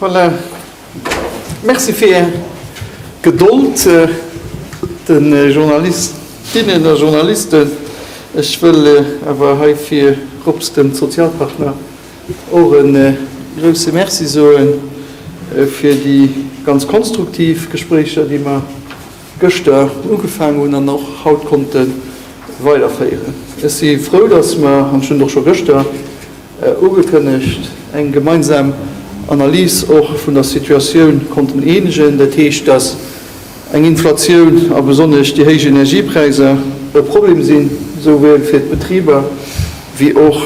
Voilà, Merci fir Är Gedold, de Journalistinnen a Journalisten. Ech wëll awer hei virrupps de Sozialpartner och e grouse Merci soe fir déi ganz konstruktiv Gespréicher, déi mer, gëschter ugefaangen hunn an och haut konnte weiderféieren. Ech si frou, datt mer, an ech hunn et och scho gëschter ugekënnegt, eng gemeinsam Analys och vun der Situatioun konnten eenegen. Dat heescht, datt eng Inflatioun a besonnesch déi héich Energiepräisser e Problem sinn, souwuel fir d'Betriber wéi och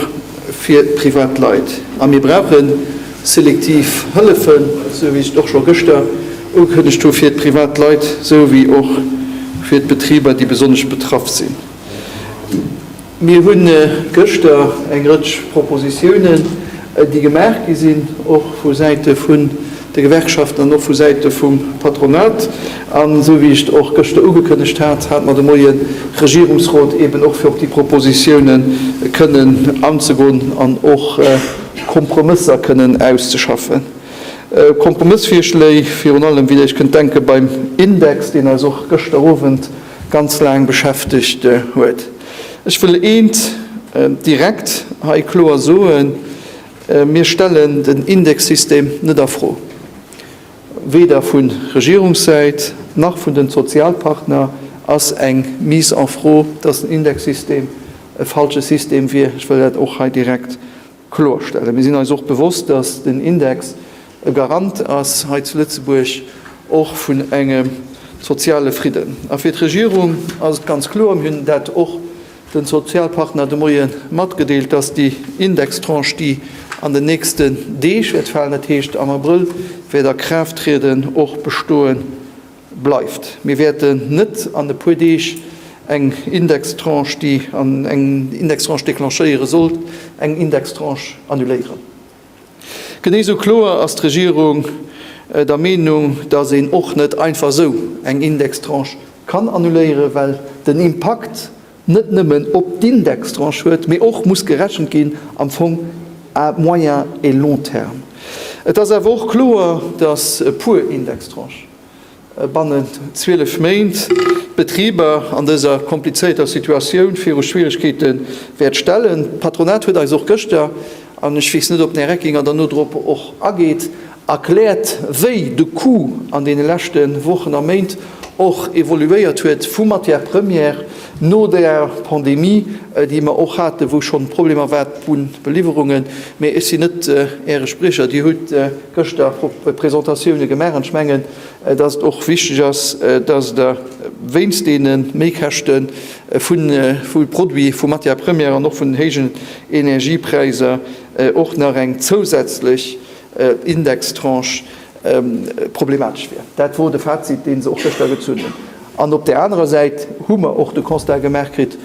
fir d'Privatleit. A mir brauchen Selektiv Hëllefen, esou wéi ech et och scho gëschter ugekënnegt hu fir d'privat Leit esou wéi och fir d'Betriber, déi besonnesch betraff sinn. Mir hunn gëschter eng Rëtsch Propositiounen, déi gemaach gi sinn, och vu Säite vun de Gewerkschaften an och vu Säite vum Patronat. An esou wéi ech et och gëschter ugekënnegt hat, hate mer de Moien Regierungsrot, eben och fir op déi Propositiounen kënnen anzegoen an och Kompromësser kënnen auszeschaffen. Kompromëssvirschléi, virun allem wéi ech kënnt denke beim Index, deen eis och gëschter Owend ganz laang beschäftegt huet. Ech wëll eent direkt hei kloer soen, Mir stellen den Indexsystem net a Fro. Weder vu Regierungssäit nach vun den Sozialpartner ass eng Mise en fro, dass den Indexsystem e falsche System wier. Ech wëll dat och hei direkt kloerstellen. Mir sinn eis och bewosst, dass den Index e Garant ass hei zu Lëtzebuerg och vun engem soziale Fridden. A fir d'Regierung ass et ganz kloer, mir hunn dat och den Sozialpartner de Moie matgedeelt, dass déi Indextranche, déi an den nächsten Deeg wäert falen, dat heescht am Abrëll wäert a Kraaft trieden, och bestoe bleift. Mir wäerten net an e puer Deeg eng Indextranche, déi eng Indextranche declenchéiere sollt, eng Indextranche annuléieren. Genee esou kloer ass d'Regierung der Meenung, dass een och net einfach esou eng Indextranche kann annuléieren, well den Impakt net nëmmen op d'Indextranche huet, mee och muss gerechent ginn am Fong à moyen et long terme. Et ass awer och kloer, dass e puer Indextranchen, Bannen 12 Méint d'Betriber an dëser komplizéierter Situatioun viru Schwieregkeete wäert stellen. D'Patronat huet eis och gëschter, an ech weess net, ob den Här Reckinger dann no drop och ageet, erkläert, wéi de Coût an deene leschte Wochen a Méint och evoluéiert huet vu Matières premières, No der Pandemie, déi mer och haten, wou schonn Problemer war d'Bunn beliwwerungen, mä ech sinn net Äre Spriecher, Dir hutt gëschter Presentatioune gemaach an ech mengen, datt et och wichteg ass, datt Der wéinst deene Méikäschte vu Produit, vu Matière première an och vun den héijen Energiepräiser och nach eng zousätzlech Indextranche problematesch wier. Dat wor de Fazit, dee se och gëschter gezunn hunn. An op där anerer Säit hu mer och de Constat gemaach kritt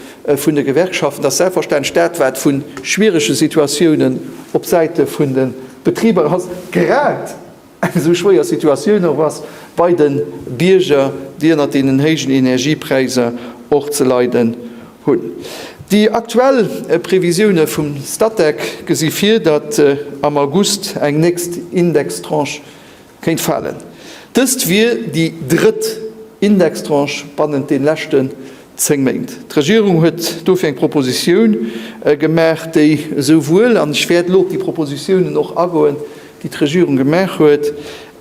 vun de Gewerkschaften, dass selbstverständlech dat, wat vu schwierege Situatiounen op Säite vun de Betriber ass, grad eng esou schwéier Situatioun och ass bei de Bierger, déi ënner deenen héijen Energiepräiser och ze leiden hunn. Déi aktuell Previsioune vum Statec gesi vir, datt am August eng nächst Indextranche kéint falen. Dëst wier déi drëtt Indextranche bannent de leschten zéng Méint. D'Regierung huet dofir eng Propositioun gemaach, déi esouwuel, an ech wäert elo op déi Propositiounen och agoen, déi d'Regierung gemaach huet,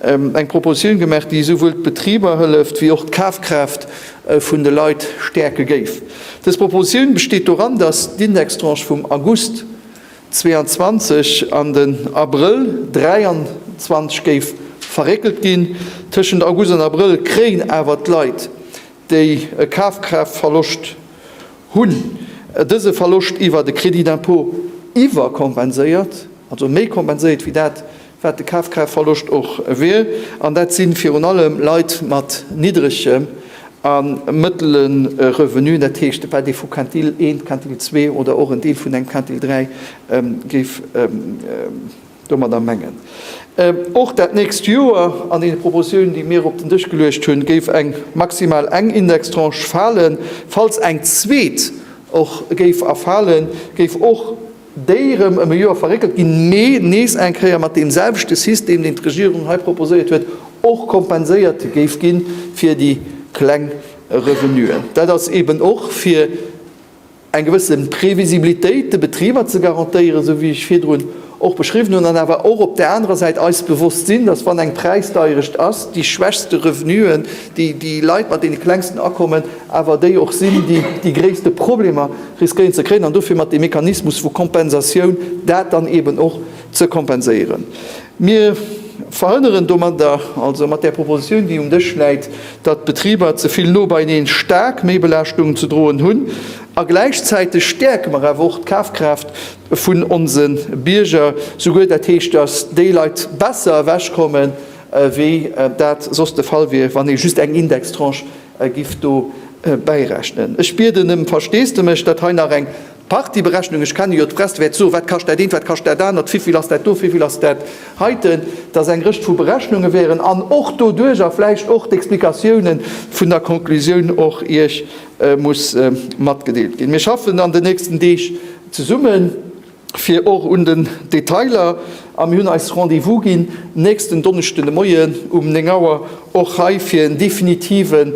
eng Proposition gemaach, déi esouwuel d'Betriber hëlleft wéi och d'Kafkraaft vun de Leit stäerke géif. Dës Proposition besteet doran, dass d'Indextranche vum August 22 an den Abrëll 23 géif verréckelt ginn. Tëschent August an Abrëll kréien awer d'Leit, déi e Kafkraaftverloscht hunn, dëse Verloscht iwwer de Crédit d'impôt iwwerkompenséiert, also méi kompenséiert wéi dat, wat de Kafkraaftverloscht och wier. An dat si virun allem Leit mat niddregem a mëttele Revenuen, dat heescht, wat ee vu Quintil 1, Quintil 2 oder och en Deel vun engem Quintil 3 géif Domadder mengen och dat nächst Joer an deene Proposiounen, déi mir op den Dësch geluecht hunn, géif eng, maximal eng Indextranche falen. Falls eng zweet och géif erfalen, géif och déi rëm ëm e Joer verréckelt ginn, mee nees eng Kéier mat deemselwechte System, deen d'Regierung hei proposéiert huet, och kompenséiert géif gi fir déi kleng Revenuen. Dat ass eeben och fir. eng gewësse Previsibilitéit de Betriber ze garantéieren, esou wéi ech virdrun och beschriwwen hunn, an awer och op där anerer Säit eis bewosst sinn, dass, wann eng Präisdeierecht ass, déi schwächste Revenuen, déi, déi Leit mat deene klengsten Akommen awer déi och sinn, déi déi gréisste Problemer riskéieren ze kréien, an dofir mat deem Mechanismus vu Kompensatioun dat dann eeben och ze kompenséieren. Mir verhënneren domadder, also mat där Propositioun, déi um Dësch läit, datt d'Betriber ze vill no beieneen staark Meebelaaschtung ze droen hunn, a gläichzäiteg stäerke mer awer och d'Kafkraaft vun onse Bierger, souguer dat heescht, datt déi Leit besser ewechkomme wéi dat soss de Fall wier, wann ee just eng Indextranche giff dobäirechnen. Ech bieden ëm Versteesdemech, datt hei nach eng. D'Partyberechnung, ech kenne jo d'Press, wäert soen, wat kascht dat eent, wat kascht dat anert, wivill ass dat do, wivill ass dat heiten, dass eng Rëtsch vu Berechnunge wären an och doduerch a vläicht och d'Explikatioune vun der Conclusioun och Iech muss matgedeelt ginn. Mir schaffen an den nächsten Deeg zesummen, fir och un den Detailer, a mir hunn eis Rendez-vous ginn nächsten Donneschden de Moien um 9 Auer och hei fir en definitiven,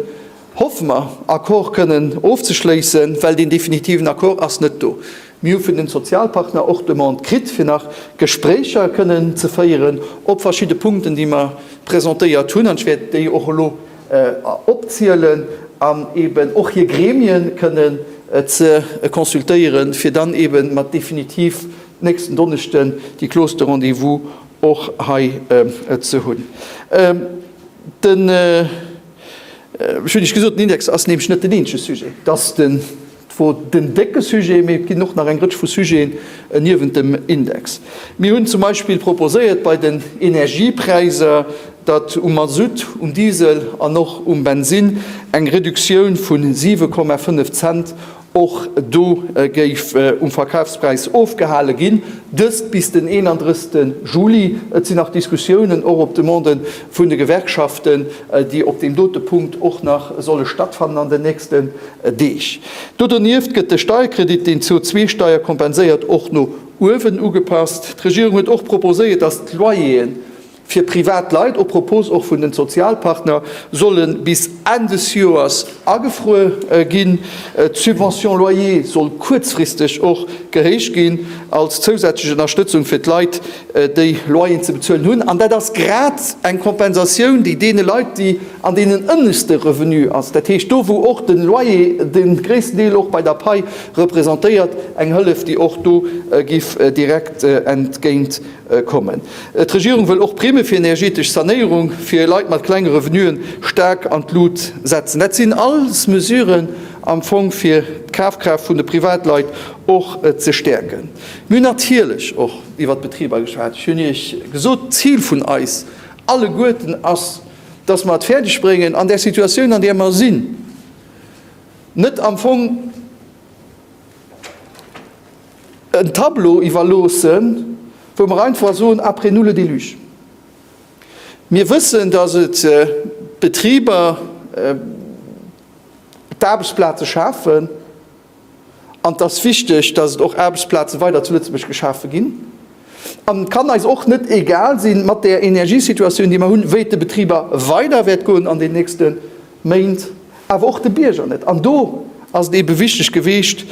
Hoffe mer, Accord kënnen ofzeschléissen, well deen definitiven Accord ass net do. Mir hu vun de Sozialpartner och d'Demande kritt, fir nach Gespréicher kënnen ze féieren op verschidde Punkten, déi mer presentéiert hunn, an ech wäert déi och elo opzielen, an eeben och hir Gremien kënnen ze consultéieren, fir dann eebe mat definitiv nächsten Donneschden déi Clause de rendez-vous och hei ze hunn. Den. Ech hunn Iech gesot, den Index ass nämlech net den eenzege Sujet. Et ass zwar den décke Sujet, mee et ginn och nach eng Rëtsch vu Sujeten niewent dem Index. Mir hunn zum Beispill proposéiert bei den Energiepräiser, datt um Masutt, um Diesel an och um Bensinn eng Reduktioun vu 7,5 Cent Och do géif um Verkafspräis ofgehale ginn, dëst bis den 31 Juli. Et sinn nach Diskussiounen, och op Demande vun de Gewerkschaften, déi op deem dote Punkt och nach solle stattfannen an den nächsten Deeg. Do donieft gëtt de Steierkredit, deen d'CO2-Steier kompenséiert, och no uewen ugepasst. D'Regierung huet och proposéiert, datt d'Loyer'en Fir privat Leit, op Propos och vun den Sozialpartner, solle bis Enn des Joers agefruer ginn. D'Subvention loyer soll kuerzfristeg och gehéicht ginn, als zousätzlech Ënnerstëtzung fir d'Leit, déi Loyeren ze bezuelen hunn. An dat ass grad eng Kompensatioun, déi deene Leit, déi an deenen ënneschte Revenu ass, dat heescht do wou och de Loyer de gréissten Deel och bei der Pai representéiert, eng Hëllef, déi och do giff direkt entgéint kommen. D'Regierung wëll och Primme fir energetesch Sanéierung fir Leit mat klenge Revenue staark an d'Lut setzen. Dat sinn alles Mesuren am Fong fir d'Kafkraaft vun de Privatleit och ze stäerken. Mir hunn natierlech och iwwert d'Betriber geschwat. Ech hunn Iech gesot, d'Zil vun eis alleguerten ass, dass mer et fäerdeg bréngen an där Situatioun an där mer sinn, net am Fong, en Tableau iwwerloossen, wou mer einfach soen, après nous le déluge. Mir wëssen, dass et d'Betriber, d'Aarbechtsplaze schafen an et ass wichteg, dass et och Aarbechtsplaze weider zu Lëtzebuerg geschafe ginn. An et kann eis och net egal sinn, mat där Energiesituatioun, déi mer hunn, wéi et de Betriber weider wäert goen an den nächste. Méint, awer och de Bierger net. An do ass et eebe wichteg gewiescht,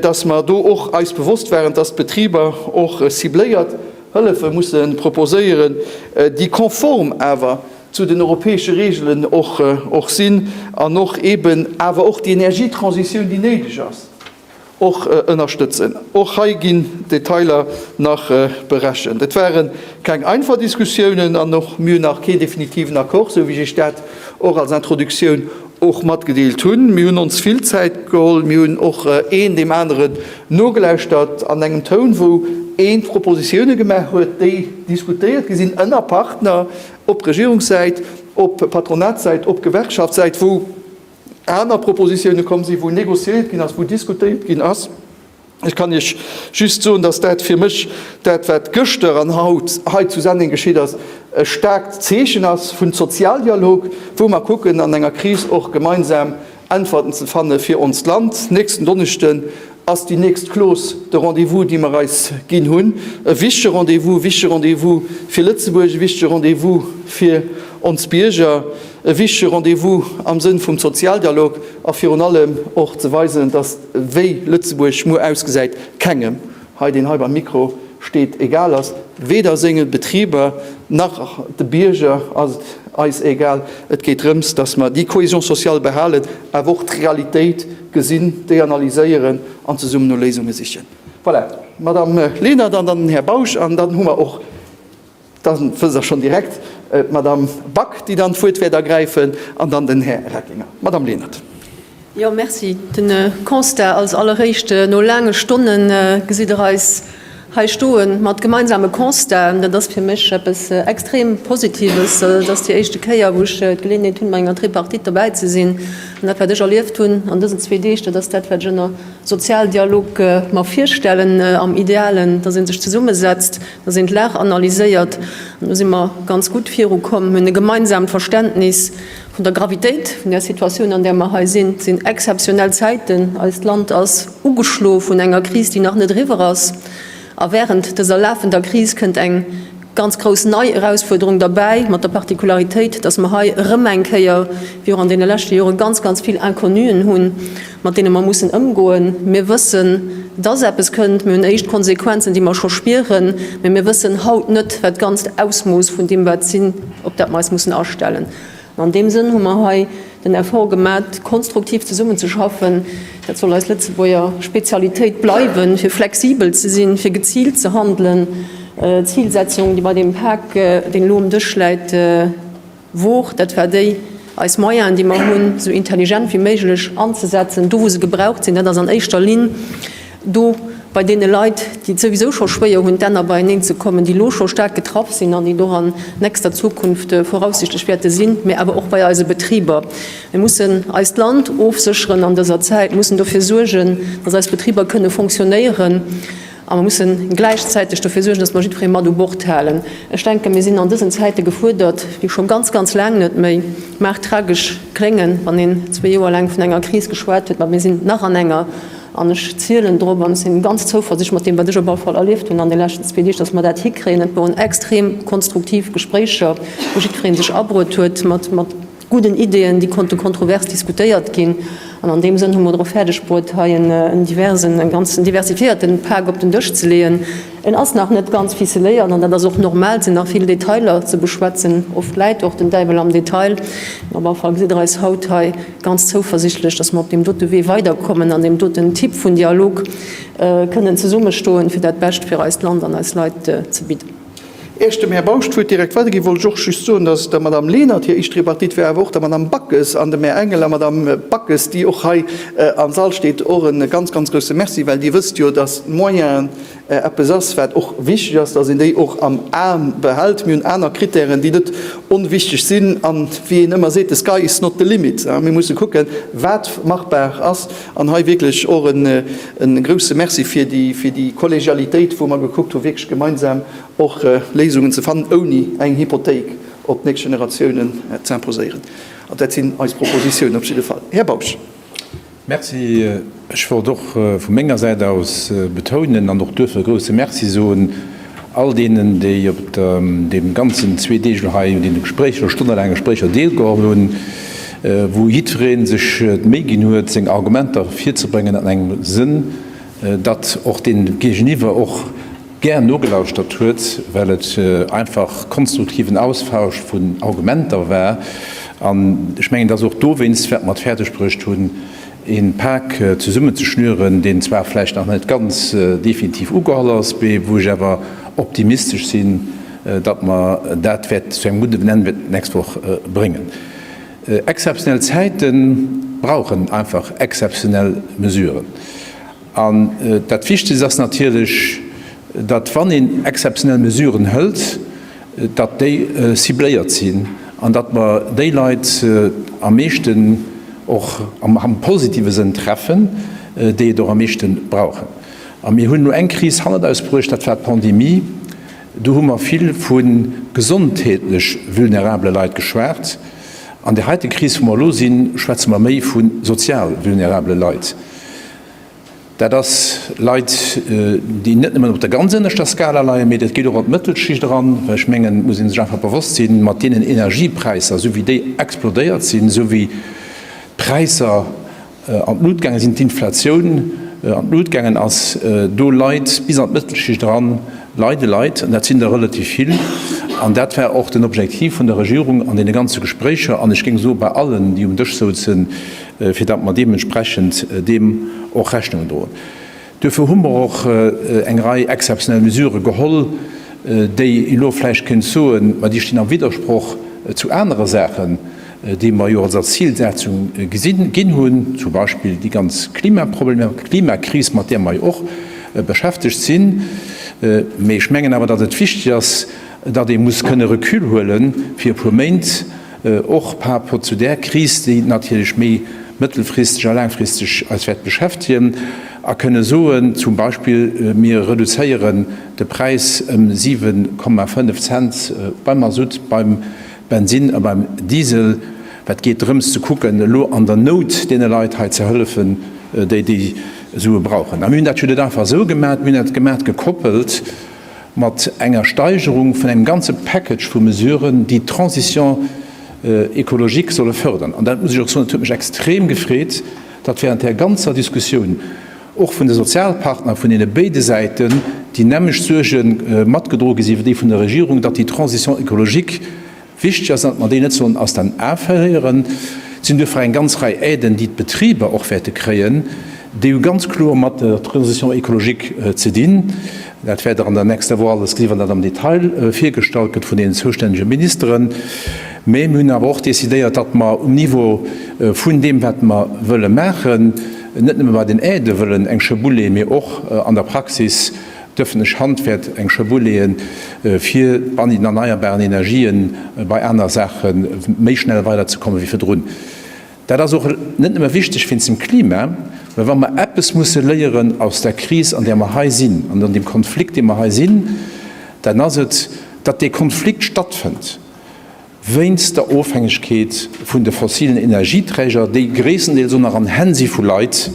dass mer do och eis bewosst waren, dass d'Betriber och cibléiert Hëllefe musse proposéieren, déi konform awer zu den europäesche Regeln och sinn an och eeben awer och déi Energietransitioun, déi néideg ass, Och ënnerstëtzen. Och hei ginn d'Detailer nach berechent. Et ware keng einfach Diskussiounen an och mir hunn nach keen definitiven Accord, esou wéi ech Iech dat och als Introduktioun och matgedeelt hunn. Mir hunn ons vill Zäit geholl. Mir hunn och een deem aneren nogelauschtert an engem Toun, wou een d'Propositioune gemaach huet, déi diskutéiert gi sinn ënner Partner, op Regierungssäit, op Patronatssäit, op Gewerkschaftssäit, wou aner Propositioune komm sinn, wou négociéiert ginn ass, wou diskutéiert ginn ass. Ech kann Iech just soen, dass dat fir mech, dat wat gëschter an haut hei zu Senneng geschitt ass, e staarkt Zeechen ass vun Sozialdialog, wou mer kucken an enger Kris och gemeinsam Äntwerten ze fanne fir onst Land. Nächsten Donneschden ass déi nächst Clause de rendez-vous, déi mer eis ginn hunn. E wichtige Rendez-vous, e wichtige Rendez-vous fir Lëtzebuerg, e wichtige Rendez-vous fir ons Bierger, e wichtige Rendez-vous am Sënn vum Sozialdialog a virun allem och ze weisen, dass wéi Lëtzebuerg muer ausgesäit, kengem hei, deen hei beim Mikro steet, egal ass, weder senge Betriber nach de Bierger ass et eis egal. Et geet drëms, dass mer déi Cohésion sociale behalen, awer och d'Realitéit, Gesinn, déi analyséieren an zesummen no Léisunge sichen. Voilà, d'Madame Lenert an dann den Här Bausch. An dann hu mer och, da wëll ech schonn direkt, d'Madame Back, déi dann d'Wuert wäert ergräifen, an dann den Här Reckinger. Madame Lenert. Jo, merci. De Constat als Alleréischt, No laange Stonnen gesitt Der eis Hei stoen, mat gemeinsame Constaten. Dat ass fir mech eppes extrem Positives. Dat ass déi éischte Kéier, wou ech d'Geleeënheet hunn, bei enger Tripartite derbäi ze sinn. An dat, wat ech erlieft hunn an dësen zwee Deeg, dat ass dat, wat ech ënner Sozialdialog mer virstellen, am Idealen, dass ee sech zesummesetzt, dass een d'Lag analyséiert. An do si mer ganz gutt virukomm, hunn e gemeinsaamt Verständnis. Vun der Gravitéit vun där Situatioun, an där mer hei sinn, et sinn exzeptionell Zäiten, eist Land ass ugeschlo vun enger Kris, déi nach net eriwwer ass, a während dëser lafender Kris kënnt eng ganz grouss nei Erausfuerderung derbäi, mat der Particularitéit, dass mer hei erëm eng Kéier, wéi och an deene leschte Jore, ganz, ganz vill Inconnuen hunn, mat deene mer mussen ëmgoen. Mir wëssen, dass eppes kënnt, mir hunn éischt Konsequenzen, déi mer scho spieren, mä mir wëssen haut net, wat d'ganzt Ausmooss vun deem wat sinn, op dat mer eis mussen astellen. An deem Sënn hu mer hei den Effort gemat, konstruktiv zesummenzeschaffen. Dat soll eis Lëtzebuerger Spezialitéit bleiwen, fir flexibel ze sinn, fir geziilt ze handelen, d'Zilsetzung, déi bei deem Pak, deen elo um Dësch läit, wor, dat war déi, eis Moyenen, déi mer hunn, esou intelligent wéi méiglech anzesetzen, do wou se gebraucht sinn. Dat ass an éischter Linn do bei deene Leit, déi et souwisou scho schwéier hunn, d'Enner beieneen ze kommen, déi elo scho staark getraff sinn an déi et och an nächster Zukunft voraussichtlech wäerte sinn, mä awer och bei eise Betriber. Mir mussen eist Land ofsécheren an dëser Zäit. Mir mussen dofir suergen, dass eis Betriber kënne fonctionnéieren, a mir mussen gläichzäiteg dofir suergen, dass mer jiddweree mat u Bord halen. Ech denken, mir sinn an dësen Zäite gefuerdert wéi scho ganz, ganz laang net méi. Mag tragesch kléngen, wann een zwee Joer laang vun enger Kris geschwat huet, mä mir sinn nach an enger. An ech zielen drop an ech sinn ganz zouversichteg mat deem wat ech op alle Fall erlieft hunn an de leschten zwee Deeg, datt mer dat hikréien. Et woren extrem konstruktiv Gespréicher, wou jiddwereen sech abruet huet mat gudden Ideeën, déi konnte kontrovers diskutéiert ginn. An an deem Sënn hu mer et och fäerdeg bruet hei en diversen, en ganzen diversifiéierten Pak op den Dësch ze leeën. En ass nach net ganz ficeléiert an dat ass och normal. Et sinn nach vill Detailer ze beschwätzen. Oft läit och den Däiwel am Detail. Mee op alle Fall gesitt Der eis haut hei. ganz zouversichtlech, dass mer op deem dote Wee weiderkommen an deem doten Typ vun Dialog kënnen zesummestoen, fir dat Bescht fir eist Land an eis Leit ze bidden. Ier ech dem Här Bausch d'Wuert direkt weiderginn, wollt ech och just soen, dass der Madame Lenert hir éischt Tripartite war, awer och der Madame Backes an dem Här Engel a Madame Backes, déi och hei am Sall steet, och e ganz, ganz grouse Merci, well Dir wësst jo, dass d'Moyenen, eppes ass, wat och wichteg ass, dass een déi och am A behält. Mir hunn aner Krittären, déi net onwichteg sinn. A wéi een ëmmer seet, the sky is not the limit. Mir musse kucken, wat machbar ass. An hei wierklech och e grouse Merci fir déi Kollegialitéit, wou mer gekuckt hu wierklech gemeinsam och Léisungen ze fannen, ouni eng Hypothéik op d'nächst Generatiounen z'imposéieren. Dat sinn eis Propositiounen op jidde Fall. Här Bausch. Merci. Ech wollt och vu menger Säit aus betounen an och duerfir e grouse Merci soen all deenen, déi op deem ganzen zwee Deeg elo hei un deene Gespréicher, stonnelaange Gespréicher deelgeholl hunn, wou jiddweree sech d'Méi ginn huet, seng Argumenter virzebréngen an engem Sënn, datt och dee Géigeniwwer och, gär nogelauschtert huet, well et einfach konstruktiven Austausch vun Argumenter war. An ech mengen, dass och dowéinst, wat mer et fäerdegbruecht hunn, ee Pak zesummenzeschnüren, deen zwar vläicht nach net ganz definitiv ugeholl ass, mee wou ech awer optimistesch sinn, datt mer dat wäerte zu engem gudden Enn d'nächst Woch bréngen. Exzeptionell Zäite brauchen einfach exzeptionell Mesuren. An dat Wichtegst ass natierlech, datt, wann een exzeptionell Mesuren hëlt, datt déi cibléiert sinn an datt mer déi Leit am meeschten, och am positive Sënn, treffen, déi et och am meeschten brauchen. A mir hunn elo eng Kris hannert eis bruecht, dat war d'Pandemie. Do hu mer vill vu gesondheetlech vulnerabele Leit geschwat. An der heite Kris, wou mer elo sinn, schwätze mer méi vu sozial vulnerabele Leit. Dat ass Leit, déi net nëmmen op der ganz ënneschter Skala leien, mee dat geet och an d'Mëttelschicht eran, well ech mengen, et muss ee sech einfach bewosst sinn, mat deenen Energiepräisser, esou wéi déi explodéiert sinn, esou wéi d'Präisser, an d'Lut gaangen sinn, d'Inflatioun an d'Lut gaangen ass, do Leit bis an d'Mëttelschicht eran leide Leit, an dat sinn der relativ vill. An dat war och den Objektiv vun der Regierung an deene ganze Gespréicher an, ech géing soen, bei allen, déi um Dësch souzen, fir datt mer deementsprechend deem och Rechnung droen. Duerfir hu mer och eng Rei exzeptionell Mesurë geholl, déi ee lo vläicht kéint soen, ma déi stinn am Widdersproch zu anere Saachen, déi mer jo als als Zilsetzung gesi ginn hunn, zum Beispill déi ganz Klimaproblematik, d'Klimakris, mat där mer jo och beschäftegt sinn. Mee ech mengen awer, datt et wichteg ass, datt ee muss kënne Recul huelen fir e puer Méint, och par rapport zu där Kris, déi natierlech méi mëttelfristeg a laangfristeg eis wäert beschäftegen, a kënne soen, zum Beispill, mir reduzéieren de Präis ëm 7,5 Cent beim Masutt, beim Bensinn a beim Diesel. Wat geet drëms ze kucken, elo an der Nout deene Leit hei ze hëllefen, déi déi Sue brauchen. A mir hunn dat jo net einfach esou gemaat, mir hunn dat gemaat gekoppelt, mat enger Steigerung vun engem ganze Package vu Mesuren, déi d'Transition écologique solle fördern. An dat muss ech och soen, et huet mech extrem gefreet, datt während där ganzer Diskussioun och vun de Sozialpartner, vun deene béide Säiten, déi nämmlecht Suerge matgedroe gi si wéi déi vun der Regierung, datt déi Transition écologique, Wichteg ass, datt mer déi net sollen aus den A verléieren. Et sinn duerfir eng ganz Rei Aiden, déi d'Betriber och wäerte kréien. Déi hu ganz kloer mat der Transition écologique ze dinn. Dat wäert Der an der nächster Woch alles gesinn, wann dat am Detail virgestallt gëtt vun deenen zoustännege Ministeren. Mä mir hunn awer och decidéiert, datt mer um Niveau vun deem, wat mer wëlle maachen, net nëmme bei den Aidë wëllen eng Schëboue leeën, mee och an der Praxis D'ëffentlech Hand wäert eng Schoul leeën, fir bei den erneierbaren Energien, bei aner Saache méi schnell weiderzekommen wéi virdrun. Dat ass och net nëmme wichteg wéinst dem Klima, mä wa mer eppes musse léieren aus der Kris, an där mer hei sinn, an an deem Konflikt, dee mer hei sinn, dann ass et, datt dee Konflikt stattfënnt. wéinst der Ofhängegkeet vun de fossilen Energieträger, déi gréisstendeels och nach an Hänn si vu Leit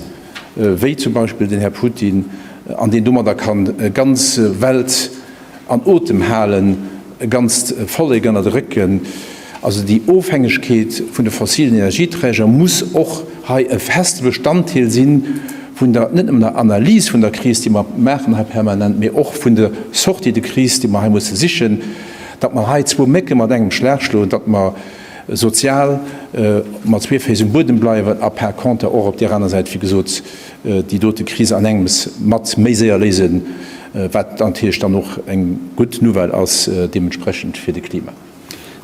wéi zum Beispill den Här Putin, an deen domadder ka ganz Welt an Otem halen, e ganzt Vollek ënnert de Réck gëtt. Also déi Ofhängegkeet vun de fossilen Energieträger muss och hei e feste Bestanddeel si vun der, net nëmmen der Analys vun der Kris, déi mer maachen hei permanent, mee och vun der Sortie de crise, déi mer hei musse sichen. Datt mer hei zwou Mécke mat engem Schlag schloen, datt mer sozial mat zwee Féiss um Buedem bleiwen a par conter och op där aner Säit, wéi gesot, déi dote Kris an engems mat méi séier léisen, wat natierlech dann och eng gutt Nouvelle ass deementsprechend fir de Klima.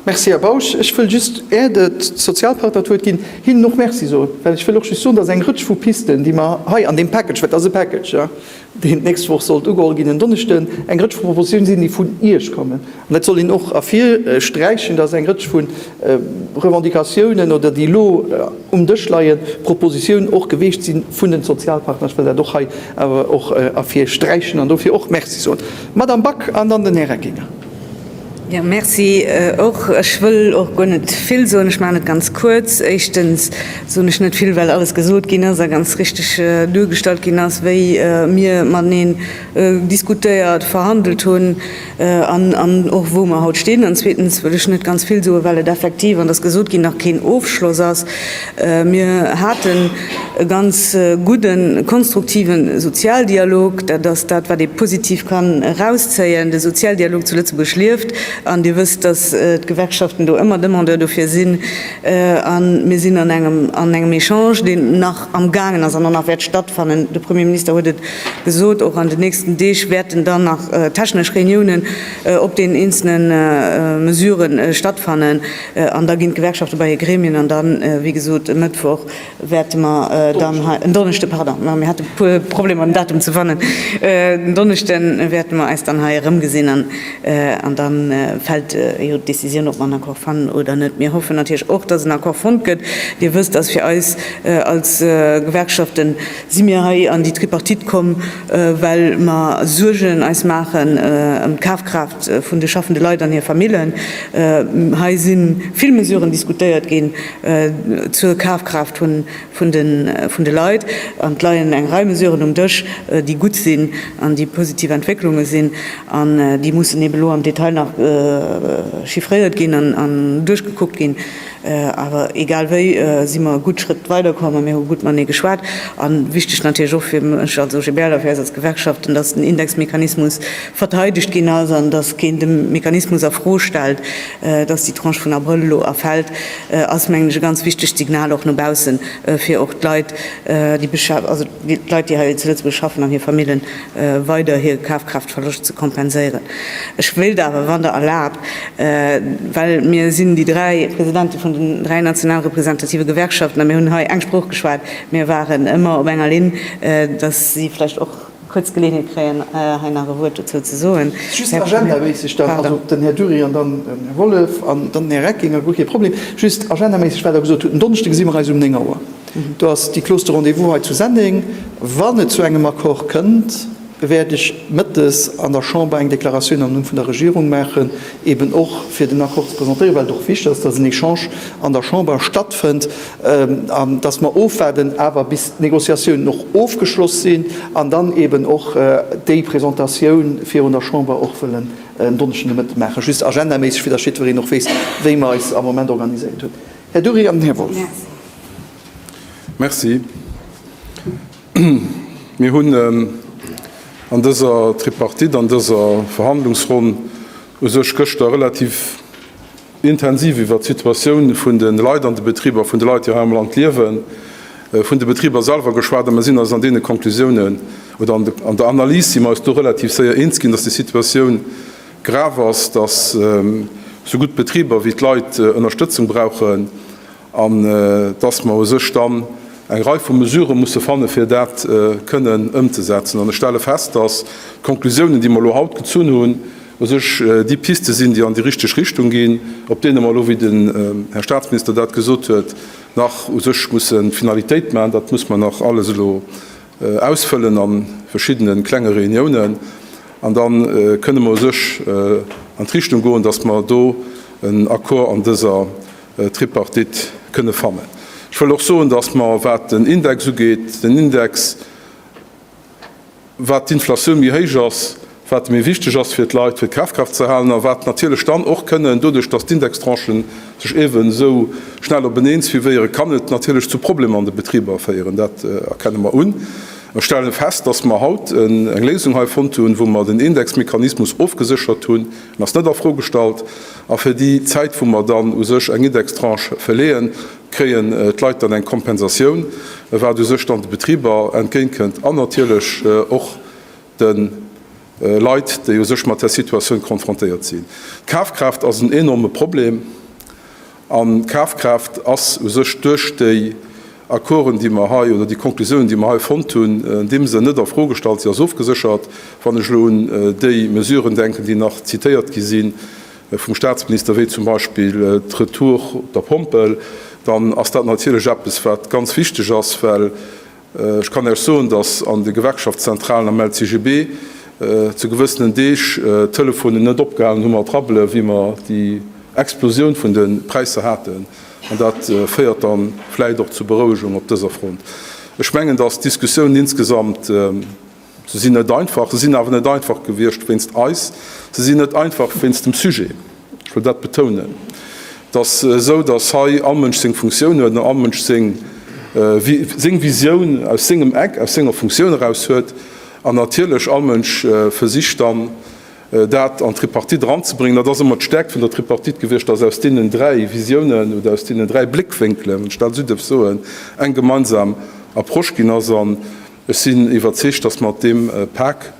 Merci, Här Bausch. Ech wëll just, är de Sozialpartner d'Wuert ginn, hinnen och Merci soen, well ech wëll och just soen, dat ass eng Rëtsch vu Pisten, déi mer hei an deem Package, well et ass e Package, deen d'nächst Woch sollt ugeholl ginn, en Donneschden, eng Rëtsch vu Propositionen sinn, déi vun Iech kommen. An dat soll een och ervirsträichen, dass eng Rëtsch vu Revendicatiounen oder déi elo um Dësch leien, Propositionen och geweecht sinn vun den Sozialpartner. Ech wëll dat och hei awer och ervirsträichen an dofir och Merci soen, Madame Back an dann den Här Reckinger. Jo, merci och. Ech wëll och guer net vill soen. Ech maachen et ganz kuerz. Éischtens soen ech net vill, well alles gesot ginn ass a ganz richteg duergestallt ginn ass, wéi mir mateneen diskutéiert, verhandelt hunn an och wou mer haut stinn. An zweetens wëll ech net ganz vill soen, well et effektiv, an et ass gesot ginn, nach keen Ofschloss ass. Mir haten e ganz gudden, konstruktiven Sozialdialog. Dat ass dat, wat ee positiv kann erauszéien. De Sozialdialog zu Lëtzebuerg lieft. An Dir wësst, dass d'Gewerkschaften do ëmmer Demandeur dofir sinn. A mir sinn an engem, an engem Echange, deen nach amgaangen ass an och nach wäert stattfannen, de Premier Minister huet et gesot, och an den nächsten Deeg wäerten dann nach technesch Reuniounen op deenen eenzele Mesuren stattfannen, An da ginn d'Gewerkschafte bei hir Gremien an dann, wéi gesot, e Mëttwoch wäerte mer dann hei, en Donneschde, pardon, mir hate puer Problemer den Datum ze fannen, en Donneschde wäerte mer eis dann hei erëmgesinn an da fält jo d'Decisioun, ob mer en Accord fannen oder net. Mir hoffen natierlech och, dass en Accord fonnt gëtt. Dir wësst, dass fir eis als Gewerkschaften si mir hei an déi Tripartite komm, well mer Suergen eis maachen ëm d'Kafkraaft vun de schaffende Leit an hir Famillen. Hei si vill Mesuren diskutéiert ginn zur Kafkraaft vun de Leit, an et leien eng Rei Mesuren um Dësch, déi gutt sinn an déi positiv Entwécklunge sinn, an déi mussen eeben elo am Detail nach chiffréiert ginn an duerchgekuckt ginn. Awer egal wéi si mer e gutt Schrëtt weiderkomm a mir hu gutt matenee geschwat. A wichteg natierlech och fir mech als OGBL a fir eis als Gewerkschaften, datt den Indexmechanismus verteidegt ginn ass an datt keen de Mechanismus a Fro stellt. Datt déi Tranche vun Abrëll elo erfält, ass mengen ech e ganz wichtegt Signal och no baussen, fir och d'Leit, déi hei zu Lëtzebuerg schaffen an hir Famillen weider hir Kafkraaftverloscht ze kompenséieren. Ech wéilt awer, wann Der erlaabt, well mir sinn déi dräi Presidente vun den dräi national representative Gewerkschaften a mir hunn hei eng Sprooch geschwat, mir waren ëmmer op enger Linn, dass si vläicht och kuerz d'Geleeënheet kréien, hei nach e Wuert dozou ze soen. Just agendaméisseg dann, also den Här Dury an dann den Här Wollef an dann den Här Reckinger, guer kee Problem. Just agendaméisseg, wat Der gesot hutt, en Donneschde gesi mer eis um néng Auer. Do ass déi Clause de rendez-vous hei zu Senneng. Wann et zu engem Accord kënnt, wäert ech mëttes an der Chamber eng Deklaratioun am Numm vun der Regierung maachen, eben och fir den Accord ze presentéieren, well et och wichtig ass, dass en Echange an der Chamber stattfënnt an dass mer ofwaarden awer, bis d'Négociatiounen och ofgeschloss sinn an dann eben och déi Presentatioun virun der Chamber och wëllen en Donneschden de Mëtte maachen. Just agendaméisseg, fir dass jiddwereen och weess, wéi mer eis am Moment organiséiert hunn. Här Dury an den Här Wolff. Merci. Mir hunn an dëser Tripartite, an dëser Verhandlungsronn u sech gëschter relativ intensiv iwwert d'Situatioun vun de Leit an de Betriber, vun de Leit, déi hei am Land liewen, vun de Betriber selwer geschwat. A mir sinn eis an deene Konklusiounen oder an der Analys si mer eis do relativ séier eens ginn, dass déi Situatioun, Grav ass, datt sou gutt d'Betriber wéi d'Leit Ënnerstëtzung brauchen an datt mer u sech dann eng Rei vu Mesurë musse fanne fir dat kënnen ëmzesetzen. An ech stelle fest, datt d'Konklusiounen, déi mer elo haut gezunn hunn, u sech déi Piste sinn, déi an déi richteg Richtung ginn, op deene mer elo, wéi den Här Staatsminister dat gesot huet, nach u sech musse Finalitéit maachen. Dat muss mer nach alles elo Ausfëllen an verschiddenen klenge Reuniounen an dann kënnen mer u sech an d'Richtung goen, dass mer do en Accord an dëser Tripartite kënnen fannen. Ech wëll och soen, dass mer, wat den Index ugeet, den Index, wat d'Inflatioun méi héich ass, wat méi wichteg ass fir d'Leit, fir d'Kafkraaft ze halen, a wat natierlech dann och kënnen, doduerch datt d'Indextranchen sech eeben esou schnell openeen suivéieren, kann et natierlech zu Problemer an de Betriber féieren. Dat erkenne mer un a stellen fest, datt mer haut eng Léisung hei fonnt hunn, wou mer den Indexmechanismus ofgeséchert hunn, en ass net a Fro gestallt, a fir déi Zäit wou mer dann u sech eng Indextranche verleeën, kréien d'Leit dann eng Kompensatioun, wat u sech dann de Betriber entgéintkënnt an natierlech och, de Leit, déi u sech mat där Situatioun konfrontéiert sinn. D'Kafkraaft ass en enorme Problem an d'Kafkraaft ass u sech duerch déi Accorden, déi mer hei, oder déi Konklusiounen, déi mer hei fonnt hunn, andeem se net a Fro gestallt sinn, ass ofgeséchert. Wann ech elo un déi Mesuren denken, déi nach zitéiert gi si vum Statsminister, wéi zum Beispill d'Retour op der Pompel, dann ass dat natierlech eppes, wat ganz wichteg ass, well Ech kann lech soen, datt an de Gewerkschaftszentralen am LCGB zu gewëssenen Deeg d'Telefonen net opgehalen hu mat rabbelen, wéi mer déi Explosioun vun de Präisser haten. An dat féiert da vläicht och zu Berouegung op dëser Front. Ech mengen, datt d'Diskussioun insgesamt, Se sinn net einfach. Se sinn awer net einfach gewiescht wéinst eis. Se sinn net einfach wéinst dem Sujet. Ech wëll dat betounen. Et ass esou, datt hei all Mënsch seng Funktioun huet an all Mënsch seng Visioun aus sengem Eck, aus senger Funktioun eraus huet. An natierlech all Mënsch versicht dann, dat an d'Tripartite eranzebréngen. Dat ass ëmmer d'Stäerkt vun der Tripartite gewiescht, datt aus deenen dräi Visiounen oder aus deenen dräi Bléckwénkelen, wann ech dat esou dierf soen, eng gemeinsam Approche ginn ass. Ech sinn iwwerzeegt, dass mat deem Pak,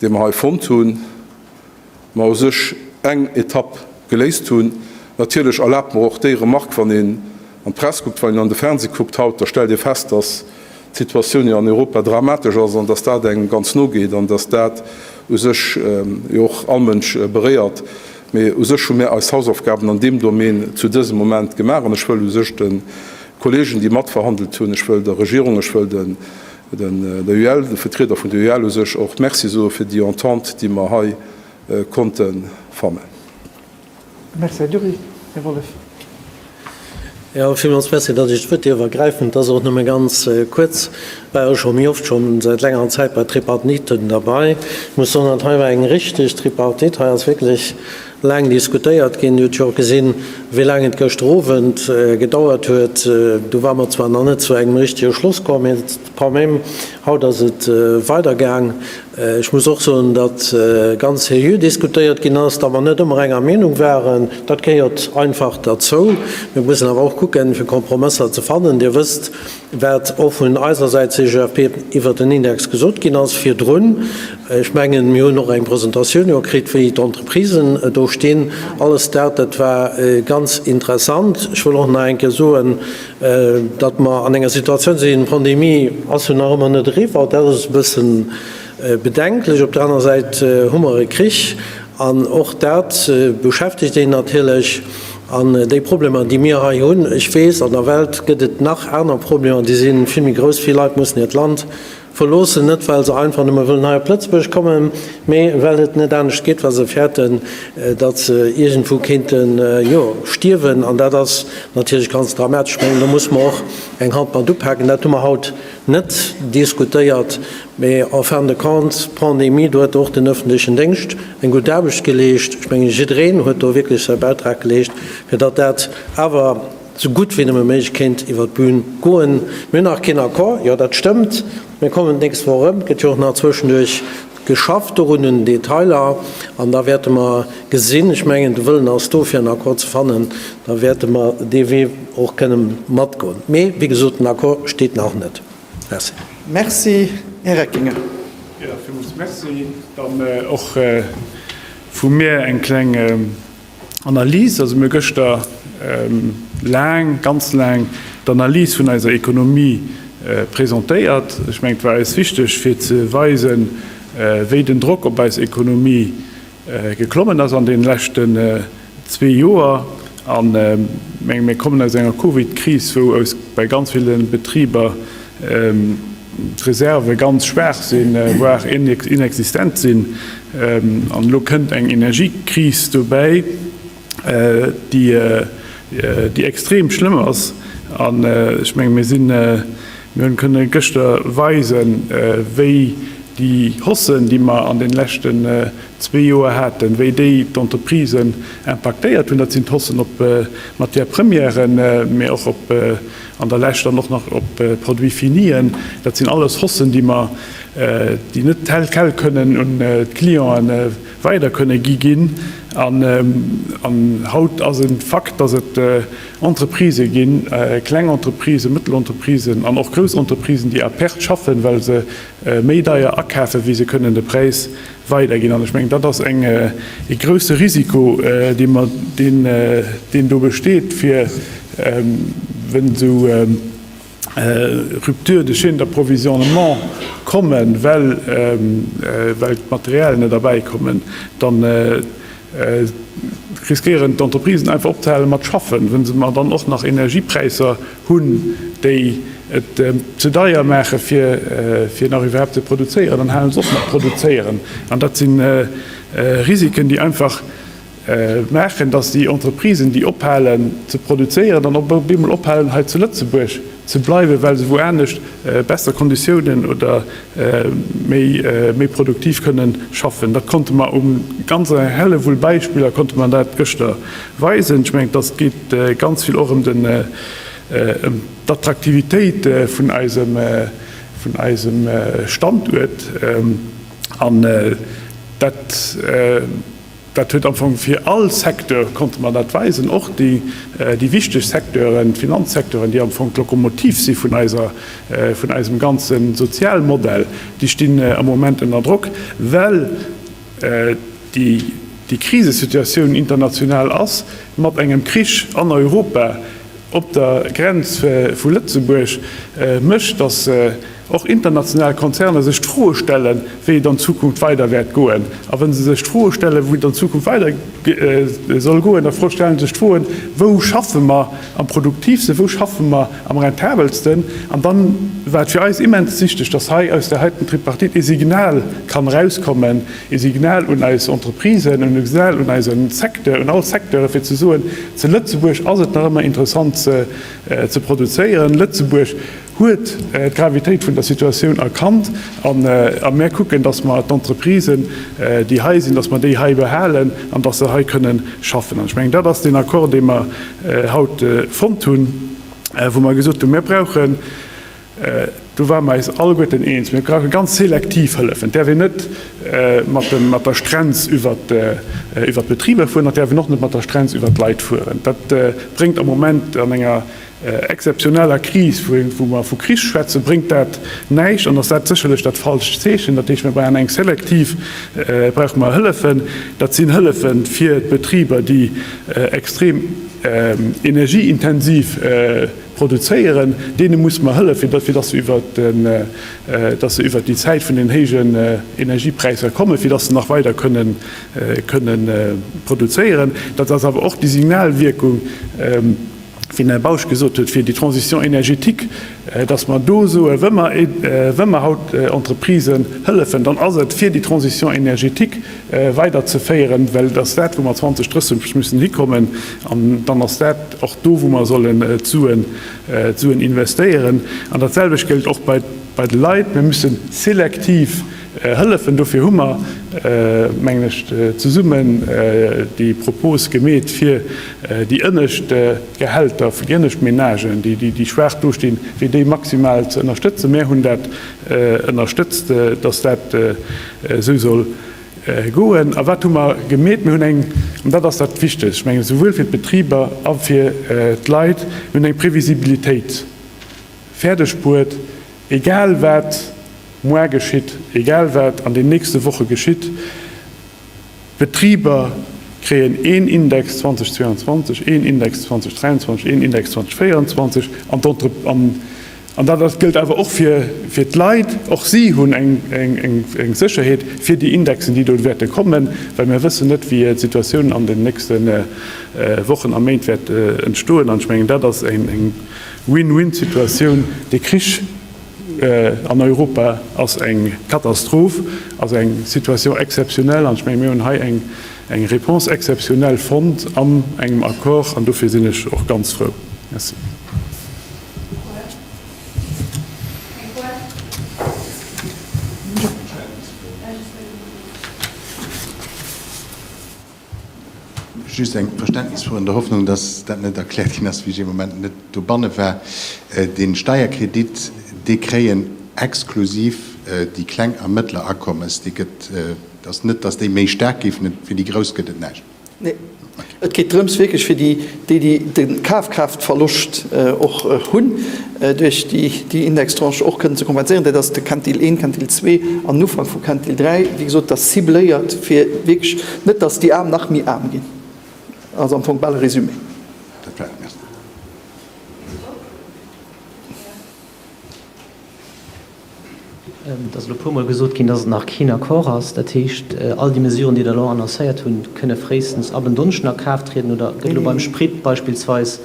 dee mer hei fonnt hunn, mer u sech eng Etapp geléist hunn. Natierlech, erlaabt mer och déi Remark, wann een an d'Press kuckt, wann een an de Fernseh kuckt haut, da stellt ee fest, dass d'Situatioun jo an Europa dramatesch ass an dass dat engem ganz no geet an dass dat u sech jo och all Mënsch beréiert. Mee u sech hu mer eis Hausaufgaben an deem Domän zu dësem Moment gemaach an ech wëll u sech de Kollegen, déi matverhandelt hunn, ech wëll der Regierung, ech wëll den, der UEL, de Vertrieder vun der UEL u sech och Merci soe fir déi Entente, déi mer hei konnte fannen. Merci, Här Dury. Här Wollef. Jo, villmools merci, datt ech d'Wuert dierf ergräifen. Et ass och nëmme ganz kuerz. Ech war jo scho méi oft, scho säit längerer Zäit, bei Tripartiten derbei. Ech muss soen, dat hei war eng richtig Tripartite. Hei ass wierklech Laang diskutéiert ginn. Dir hutt jo och gesinn, wéi laang et gëschter Owend gedauert huet. Du ware mer zwar nach net zu engem richtege Schloss komm, mee quand même, haut ass et weidergaang. Ech muss och soen, datt ganz seriö diskutéiert ginn ass, datt mer net ëmmer enger Meenung waren. Dat gehéiert einfach derzou. Mir mussen awer och kucken, fir Kompromësser ze fannen. Dir wësst, wat och vun eiser Säit CGFP iwwert den Index gesot ginn ass virdrun. Ech mengen, mir hunn och eng Presentatioun jo kritt, wéi d'Entreprisen do stinn. Alles dat, dat war ganz interessant. Ech wëll och nach eng Kéier soen, datt mer an enger Situatioun sinn, d'Pandemie ass jo nach ëmmer net eriwwer, dat ass e bësse bedenklech. Op der aner Säit hu mer e Krich an och dat beschäftegt een natierlech. An déi Problemer, déi mir hei hunn, ech weess, an der Welt gëtt et nach aner Problemer, déi si vill méi grouss. Vill Leit mussen hiert Land verloossen, net well se einfach nëmme wëllen hei op Lëtzebuerg kommen, mee well et net anescht geet, well se fäerten, datt se iergendwou kéinte jo stierwen. An dat ass natierlech ganz dramatesch. Ech mengen, do muss mer och eng Hand mat upaken. Dat hu mer haut net diskutéiert, mee en fin de compte, d'Pandemie, do huet och den öffentlechen Déngscht, Eng gutt Aarbecht geleescht. Ech mengen, jiddereen huet do wierklech säi Bäitrag geleescht, fir datt dat awer esou gutt wéi nëmme méiglech kéint iwwert d'Bün goen. Mir hunn nach keen Accord, jo, dat stëmmt. Mir kommen d'nächst Woch erëm. Et gëtt jo och nach zwëschenduerch geschafft dorun, un den Detailer. An da wäerte mer gesinn, ech mengen, de Wëllen ass do, fir en Accord ze fannen, da wäerte mer dee Wee och kënne matgoen. Mee wéi gesot, den Accord steet nach net. Merci. Merci, Här Reckinger. Jo, villmools Merci. Dann och vu mir eng kleng Analys. Also mir hu gëschter laang, ganz laang d'Analys vun eiser Ekonomie presentéiert. Ech mengen, et war eis wichteg, fir ze weisen, wéi den Drock op eis Ekonomie Geklommen ass an den leschten zwee Joer an mir kommen aus enger Covid-Kris, wou bei ganz ville Betriber d'Reserve ganz schwaach sinn, voire inexistent sinn an elo kënnt eng Energiekris dobäi. déi extrem schlëmm ass. An ech menge mir sinn, mir hunn kënne gëschter weisen, wéi déi Haussen, déi mer an deene leschten zwee Joer haten, wéi déi d'Entreprisen impaktéiert hunn. Dat sinn d'Haussen op d'Matières premièren, mä och op, an der Lescht dann och nach op d'Produits finien. Dat sinn alles Haussen, déi mer, déi net tel quel kënnen un d'Clienten weider kënne gi ginn. An haut ass en Fakt, dass et Entreprisë ginn, kleng Entreprisë, mëttel Entreprisen an och grouss Entreprisen, déi à perte schaffen, well se méi deier akafen, wéi se kënnen de Präis weiderginn. An ech mengen, dat ass e grouse Risiko, deen do besteet, fir, wéi esou, Rupture de chaîne d'approvisionnement kommen, well d'Material net erbäi kommen, da riskéieren d'Entreprisen einfach opzehale mat schaffen, wa se mar dann och nach Energiepräisser hunn, déi et ze deier maache fir nach iwwerhaapt ze produzéieren, dann hale se op mat produzéieren. An dat si Risiken, déi einfach maachen, datt déi Entreprisen, déi ophalen ze produzéieren, dann op eemol ophalen hei zu Lëtzebuerg ze bleiwen, well se wou anescht besser Konditiounen oder méi produktiv kënne schaffen. Dat konnte mer u ganz Hellewull Beispiller konnte mer dat gëschter weisen. Ech mengen, datt et geet ganz vill och ëm den ëm d'Attraktivitéit vun eisem vun eisem Standuert an dat, Dat huet am Fong fir all Secteur, konnte mer dat weisen, och déi wichteg Secteuren, d'Finanzsecteuren, déi am Fong d'Lokomotiv si vun eiser, vun eisem ganze Sozialmodell, déi stinn am Moment ënner Drock, well déi Krisesituatioun international ass, mat engem Krich an Europa, op der Grenz vu Lëtzebuerg, mécht, datt. och international Konzerner sech d'Froe stelle wéi et an Zukunft weider wäert goen. A wa se sech d'Froe stelle wou et an Zukunft weider soll goen, da stelle se sech d'Froe wou schaffe mer am produktivste, wou schaffe mer am rentabelsten. An da war et fir eis immens wichteg, datt hei aus där heiten Tripartite ee Signal kann erauskommen, ee Signal un eis Entreprisen, e Signal un eise Secteur, un all Secteure fir ze soen, zu Lëtzebuerg ass et nach ëmmer interessant ze produzéieren, Lëtzebuerg, huet d'Gravitéit vun der Situatioun erkannt a mär kucken, dass mer d'Entreprisen, déi hei sinn, dass mer déi hei behalen an dass se hei kënnen schaffen. An ech mengen, dat ass deen Accord, dee mer haut fonnt hunn, wou mer gesot hunn, Mir brauchen, do ware mer eis alleguerten eens, mir brauche ganz selektiv Hëllefen. Et däerf een net mat der Strenz iwwer d'Betriber fueren an et däerf een och net mat der Strenz iwwer d'Leit fueren. Dat bréngt am Moment an enger. exzeptioneller Kris, wou mer vu Kris schwätzen, bréngt dat näischt an ass dat sécherlech dat falscht Zeechen. Dat heescht, mir brauchen eng selektiv, brauche mer Hëllefen. Dat sinn Hëllefe fir d'Betriber, déi extrem energieintensiv produzéieren. Deene muss mer hëllefen, fir datt se iwwer datt se iwwer déi Zäit vun den héijen Energiepräisser kommen, fir datt se nach weider kënnen kënnen produzéieren. Dat ass awer och déi Signalwierkung, wéi den Här Bausch gesot huet, fir déi Transition énergétique, dass mer do soen, wa mer haut Entreprisen hëllefen, dann ass et, fir déi Transition énergétique weiderzeféieren, well et ass dat, wou mer 2030 müssen hikommen, an dann ass dat och do, wou mer sollen d'Suen investéieren. An datselwecht géllt och bei de Leit. Mir müssen selektiv Hëllefen. Dofir hu mer, mengen ech, zesummen déi Propos gemeet, fir déi ënnescht Gehälter vun déi ënnescht Menagen, déi schwaach do stinn, fir déi maximal ze ënnerstëtzen. Mär hunn dat ënnerstëtzt, dass dat esou soll goen. A wat hu mer gemeet? Mir hunn eng, an dat ass dat Wichtegst, ech mengen, esouwuel fir d'Betriber a fir d'Leit, mir hunn eng Previsibilitéit fäerdegbuert, Egal wat muar geschitt, egal wat an den nächste Woche geschitt, d'Betriber kréien een Index 2022, een Index 2023, een Index 2024 an d'Entrep-, an dat ass, gëllt awer och fir d'Leit, och si hunn eng Sécherheet fir déi Indexen, déi do wäerte kommen, well mir wëssen net, wéi d'Situatioun an den nächste Wochen a Méint wäert entstoen. An ech mengen, dat ass eng Win-win-Situatioun, dee Krich an Europa ass eng Katastroph, ass eng Situation exceptionnelle an ech menge mir hunn hei eng Réponse exceptionnelle fonnt an engem Accord an dofir sinn ech och ganz frou. Merci. Just eng Verständnisfro, an der Hoffnung, dass dat net erkläert ginn ass, wéi ech ee Moment net dobanne war. Dee Steierkredit, dee kréien exklusiv déi kleng a mëttler Akommes. Dee gëtt, et ass net, dass déi méi staark géifen, fir déi grouss gëtt et näischt. Nee, et geet drëms wierklech fir déi, déi déi de Kafkraaftverloscht och hunn, duerch déi Indextranche och kënnen ze kompenséieren, dat ass de Quintil 1, Quintil 2 an den Ufank vum Quintil 3, wéi gesot, dat ass cibléiert, fir wierklech net, datt déi Aarm nach méi aarm ginn. Dat ass am Fong bal e Résumé. Et ass elo e puermol gesot ginn, dass et nach keen Accord ass. Dat heescht, all déi Mesuren, déi Der elo annoncéiert hunn, kënne fréistens ab en Donneschden a Kraaft trieden? Oder gëtt elo beim Sprit beispillsweis,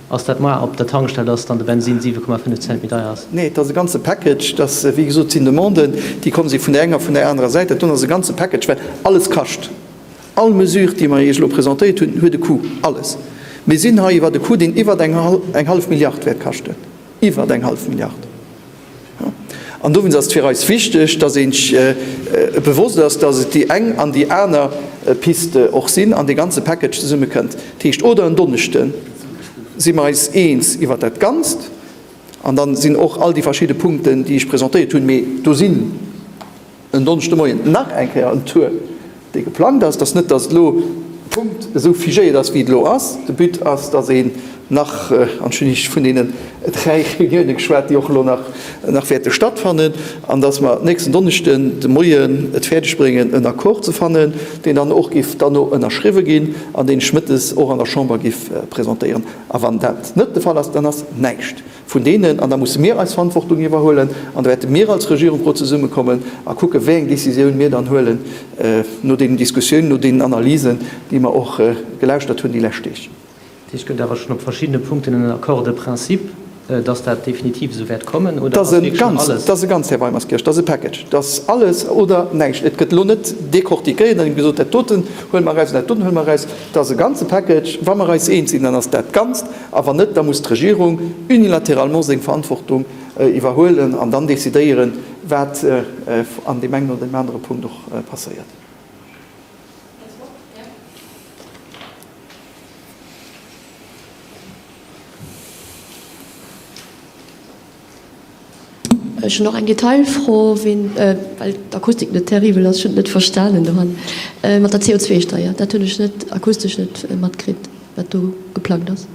ass dat moar op der Tankstell, dass dann de Bensin 7,5 Cent méi deier ass? Nee, et ass e ganze Package. Et ass, wéi gesot, et sinn Demanden, déi komm si vun där enger a vun där anerer Säit. Dat do ass e ganze Package, well alles kascht. All Mesure, déi mer Iech elo presentéiert hunn, huet e Coût, alles. Mir sinn hei iwwert e Coût, deen iwwert eng hallef Milliard wäert kaschten, iwwert eng hallef Milliard. An dowéinst ass et fir eis wichteg, dass ee sech bewosst ass, dass et déi eng an déi aner Piste och sinn an dee ganze Package zesumme kënnt. Dat heescht, oder en Donneschde si mer eis eens iwwert dat Ganzt an da sinn och all déi verschidde Punkten, déi ech presentéiert hunn, mee do sinn, En Donneschdemoien nach eng Kéier en Tour, dee geplangt ass. Et ass net, datt et elo Punkt esou figéiert ass, wéi et elo ass. De But ass, datt een nach, an ech hunn iech vun deenen dräi Reuniounen geschwat, déi och elo nach wäerte stattfannen, an datt mer nächsten Donneschden de Moien et fäerdeg bréngen, en Accord ze fannen, deen dann och géif duerno ënnerschriwwe ginn an deen ech mëttes och an der Chamber géif presentéieren. A wann dat net de Fall ass, dann ass näischt. vun deenen, an da musse mir eis Verantwortung iwwerhuelen an da wäerte mir als Regierung ro zesummekommen a kucken, wéi eng Décisioun mir dann huelen no deenen Diskussiounen, no deenen Analysen, déi mer och gelauschtert hunn déi lescht Deeg. Dat heescht, et gëtt awer schonn op verschiddene Punkten en Accord de principe, dass dat definitiv esou wäert kommen, oder ass wierklech schonn alles? Dat ass e Ganz, Här Weimerskirch, dat ass e Package. Dat ass alles oder näischt. Et gëtt elo net décortiquéiert an gesot, dat doten huele mer eraus an dat doten huele mer eraus. Dat ass e ganze Package. Wa mer eis eens sinn, dann ass dat Ganzt. A wann net, da muss d'Regierung unilatéralement seng Verantwortung iwwerhuelen an dann decidéieren, wat an deem engen oder deem anere Punkt och passéiert. Ech hunn och eng Detailfro, ween, well d'Akustik net terribel ass, ech hunn et net verstanen do han, mat der CO2-Steier, dat hunn ech net akustesch net matkritt, wat do geplangt ass.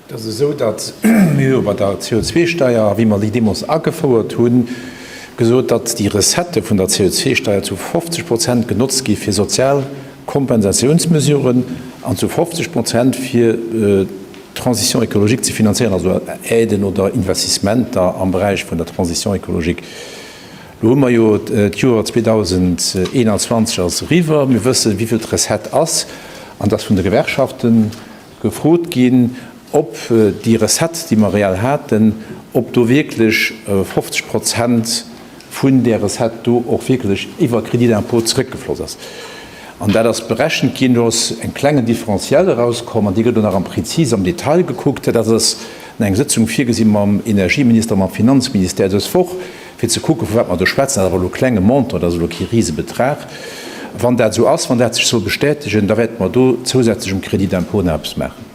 Et ass esou, datt mir hu bei der CO2-Steier, wéi mer déi deemools agefouert hunn, gesot, datt déi Recettë vun der CO2-Steier zu 50 Prozent genotzt gi fir sozial Kompensatiounsmesuren an zu 50 Prozent fir D'Transition écologique ze finanzéieren, also Aiden oder Investissementer am Beräich vun der Transition écologique. Elo hu mer jo d'Joer 2021 ass eriwwer, mir wëssen, wéi vill d'Recette ass an dass vun de Gewerkschaften gefrot ginn, ob déi Recette, déi mer reell haten, ob do wierklech 50 Prozent vun där Recette do och wierklech iwwer Crédit d'impôt zeréckgefloss ass, an dat ass berechent ginn, do ass en klengen Differentiel erauskomm an dee gëtt elo nach am prezis am Detail gekuckt. Dat ass an eng Sëtzung virgesi mam Energieminister, mam Finanzministère dës Woch, fir ze kucken, vu wat mer do schwätzen. Dat ass awer elo e klenge Montant, dat ass elo kee Risebetrag. Wann dat esou ass, wann dat sech soll bestätegen, da wäerte mer do zousätzlech um Crédit d'impôt nach eppes maachen.